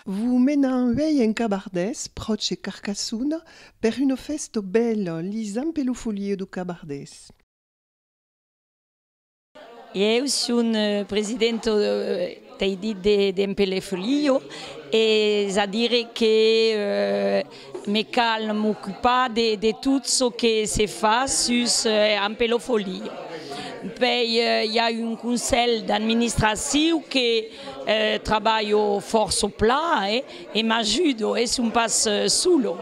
Vos menan uèi en Cabardés, pròche de Carcassona, per una fèsta bèla, li Zampelofolie do Cabardés. Ieu son presidenta tei dit de Zampelefolio, es a dire que Me cal m'ocupar de tot çò que se fa sus Ampelofolie. Pei i a un conselh d'administraciu que trabalho fòrça pla e m'ajudo e son pas solo.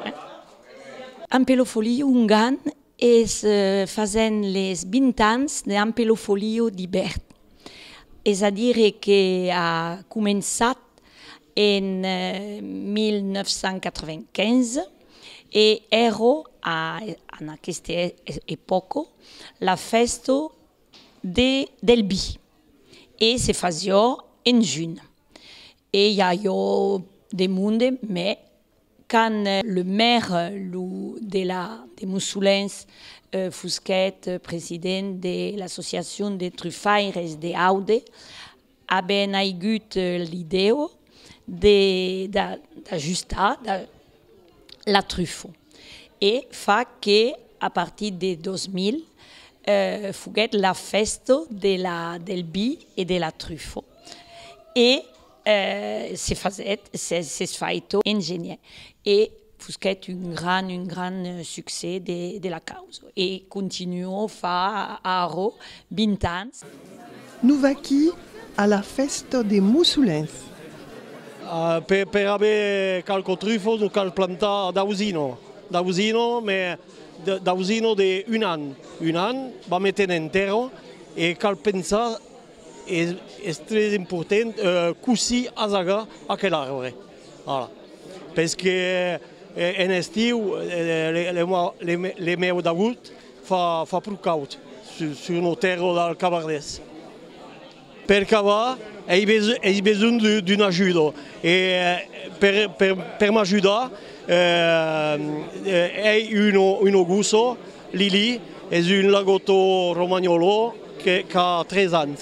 Ampelofolie ongan Es fasent les 20 ans de Ampelo Folio d'Ibèrt, es a dire que a començat en 1995 e èrò a en aqueste epòco la fèsto de del bi e se fasió en junh e i avió de monde, mès Quand le maire lo de la de Mussolens fusquèt president de l'associacion de trufaires de Aude, aben aigut l'ideo de d'ajustar da la trufo e fa que a partir de 2000 foguèt la fèsto de la del bi e de la trufo e Se fasèt, s'es faito ingenier e fusquèt un gran, un gran succès de la causa e continuo fa arro 20 ans. Nous vaquí a la fèsta de Mussolens. Per aver qualques trufos nos cal plantar d'ausino, d'ausino, mè d'ausino de un an, un an, vam meter en terra e cal pensar, Es tres important cossí asagar aquel arbre. Pes que en estiu le mèu d'agout fa pro caud sur nos tèrres del Cabardés. Per cavar ei besonh d'un ajudo e per m'ajudar ei un ogosso. Lili es un lagotto romagnolo qu'a 3 ans.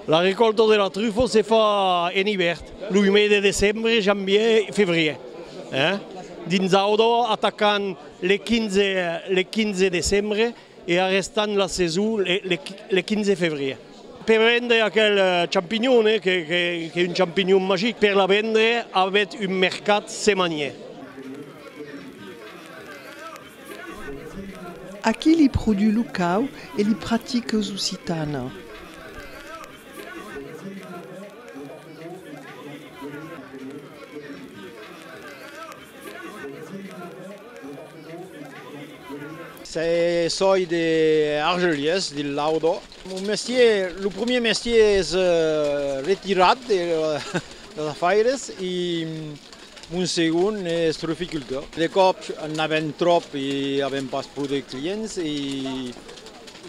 La recòlta de la trufa se fa en ivèrn, lo mes de decembre, janvier, fevrier. Dins Audo atacam le 15 decembre e arrestam la saison le 15 fevrier. Per vendre aquel champignon, qu'es un champignon magic, per la vendre avètz un mercat semanier. Aquí li produu lo cau e li pratique eus occitana. Se soi de Argelies, dil Laudo. Mon mestier, lo premier mestier es retirat de las afaires e Mon segon ne es truficultor. De còp n'avèm tròp e avèm pas pro de clients e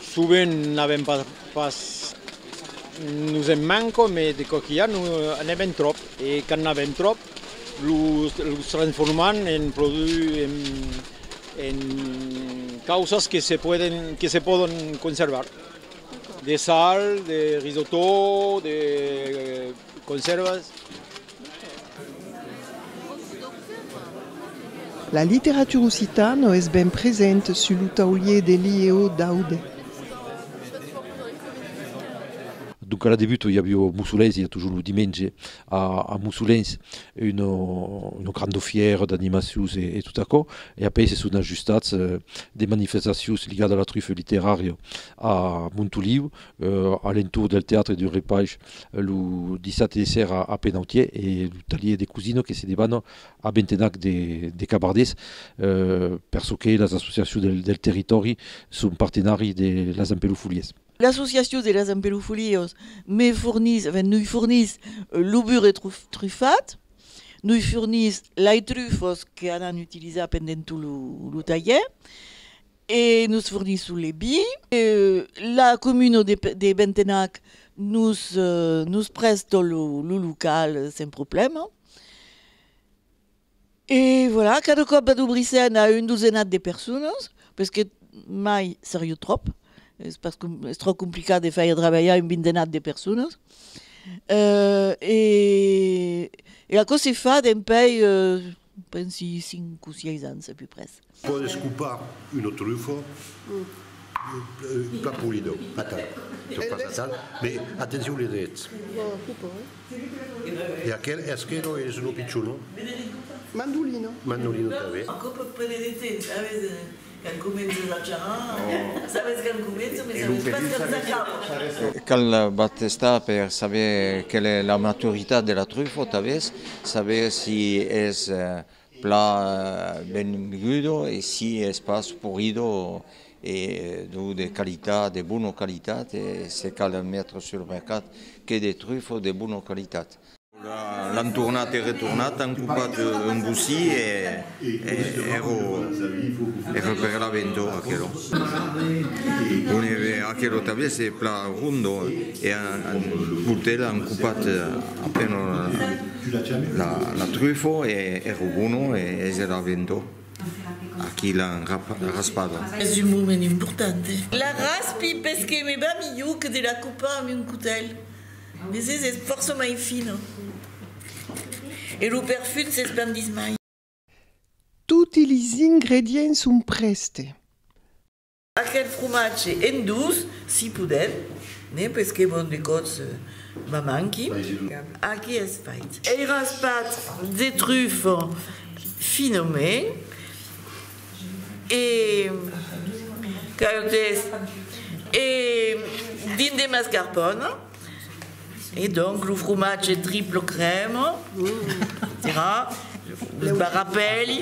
sovent n'avèm pas, nos en manca mai de cò qu'i a n'avèm tròp e quand n'avèm tròp los transformam en causas que se pòdon conservar, de sal, de risotó, de Conservas. La literatura occitana es ben present sus lo taulier de l'IEO d'Aude. Donc a la debut i avió Mussolens, i a toujours lo dimenge a Mussolens una granda fièra d'animacions e tot aquò, e après se son ajustats de manifestacions ligadas a la truffa literària a Montoliu, a l'entorn del teatre du Repaish lo dissabte de sèra a Penautier e lo talhièr de Cousino que se debana a Bentenac de Cabardés per çò qu'es las associacions del territòri son partenari de las Empeloufoliers. L'associacion de las Empeloufoliers me fornís, enfin nui fornís lo burret trufat, nui fornís lai trufas que anan utilizar pendent tot lo talhièr E nos fornisson le bi. La comuno de Bentenac nos prèsto lo local sen problèma. E voilà, cada còp vado brissènt a un dosenat de personas, pes que mai seriu tròp, es pas es tròp complicat de fèir trabalhar un bindenat de personas. E aquò se fa dempèi Pensi cinc o sièis ans a peu pres. Pòt escopar un otrufo, plan polido, atal, tot pas atal, me atencion li dretz. E aquel eschelo es lo pichon, non? Mandolino. Mandolino tanben. Quand comences a charrar, sabes quand comença mais sabes pas quand s'acaba. Cal pas testar per saber quel es la maturitat de la trufo tanbes saber si es pla ben gudo e si es pas purido e deu de qualitat de bona qualitat e se cal metre sur mercat que de trufo de bona qualitat L'an tornat e retornat, an copat un bocí e ero per la ventor aquelo. On eve aquelo tablier se pla rondo e an portet an copat apeno la trufo e ero bono e es era ventor a qui l'an raspado. Es un moment importante. La raspi pes que me va milhor que de la copar amb un cotèl. Desés es fòrça mai fina. E lo perfum s'espandís mai. Toti les ingredients son prèste. Aquel fromatge en dous, si podèm, ne pesqué bon de còps ma manqui. Aquí es fait. Ei raspat de trufa finament. e qu'autres e dins de mascarpòne e donc lo fromatge triple crème tira barrapèli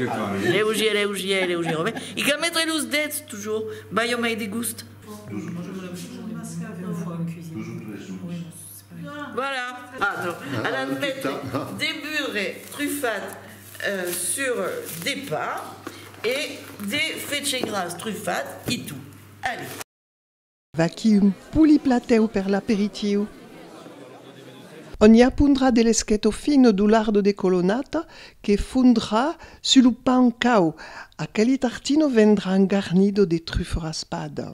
leugièr leugièr leugièr e cal metre los dets toujours balha mai de gust Voilà, ato, a l'an mète de burre trufat sur de pa e de fetge gras trufat e tu. Allez. Vaquí un poli platèu per l'aperitiu. On i apondrà de l'esqueto fino d'u lardo de colonata que fondrà su lo pan cau. Aqueli tartino vendrà un garnido de truffa raspada.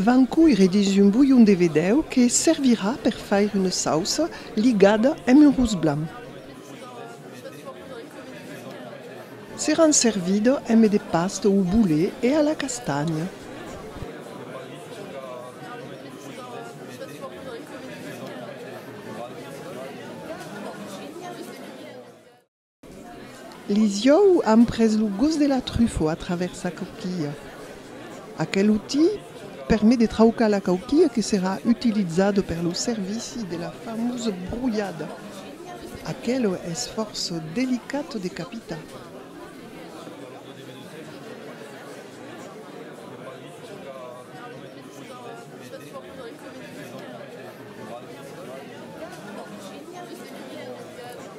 Van coire dins un bolhon de vedèu que servirà per faire una sauça ligada amb un rus blanc. Seràn servida amb de pasta o boulet e a la castanha. Lisieu an pres lo gos de la trufo a travèrs sa cauquilha. Aquel outi permet de traucar la cauquilha que serà utilizada per lo servici de la famosa brolhada. Aquela es fòrça delicata de capitar.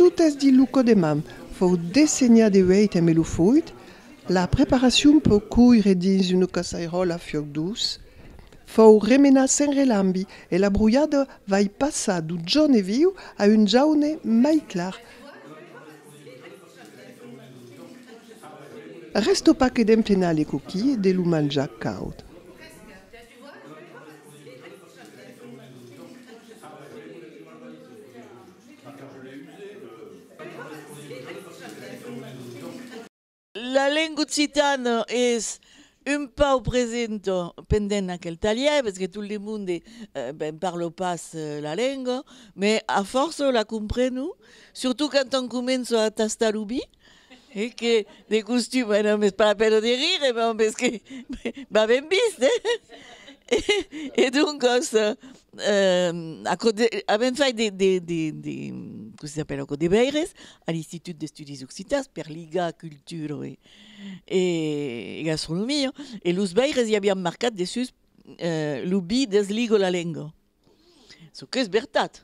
Tot es dit lo còdemam fòu dessenhat e uèit en melo foit. La preparacion pòu coire dins una caçairòla fiòc duç. Fòu remenat sen relambi e la brolhada vai passar d'un jaune viu a un jaune mai clar. Rèsta pas que d'enflenar le coquilh e de lo manjar caud. La lenga occitana es un pauc presenta pendent aquel talhèr, perque tot le monde ben parla pas la lenga, mès a fòrça la comprenu, surtout quand on comença a tastar lo bit, E que de costum e non m'es pas la pena de rire bon mès que va ben vist eh e doncas aquò de avèm fait de de de de com se dapèla aquò debeires a l'institut d'estudis occitans per ligar cultura e e gastronomia e los beires i avián marcat dessús lo bi desliga la lenga çò qu'es vertat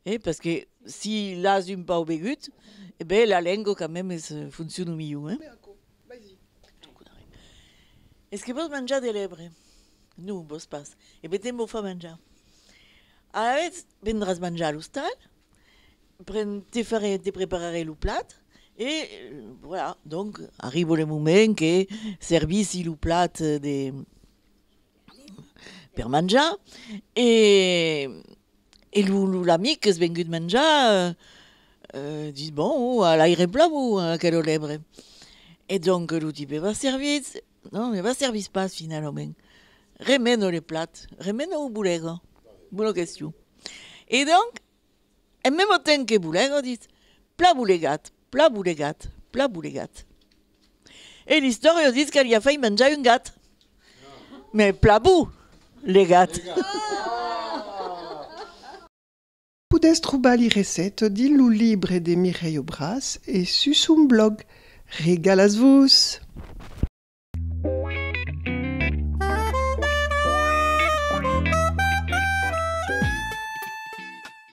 Eh, parce que si l'as un pauc begut, eh ben la lengo quand même es fonciona milhor, hein. Mira aquò, vaisi. Es que vos manjar de l'ebre? Non, vos pas. Eh ben te'n vau far manjar. Alavetz vendràs manjar a l'ostal, pren, te farè, te prepararè lo plat e voilà, donc arribo le moment que servissi lo plat de, per manjar e e lo lo l'amic qu'es vengut manjar euh ditz bon o a l'aire plan o a aquero lebre e donc lo tipe va servitz non ne va servitz pas finalament remeno le plat remeno o bolega bona question e donc En memo temps que boulègo dit, pla boulegat, pla boulegat, pla boulegat. E l'istòrio dit qu'alia fai manjar un gat, mè pla bou legat. Podètz trobar li recette dins lo libre de Mireille Aubras e sus son blòg. Regalatz-vos!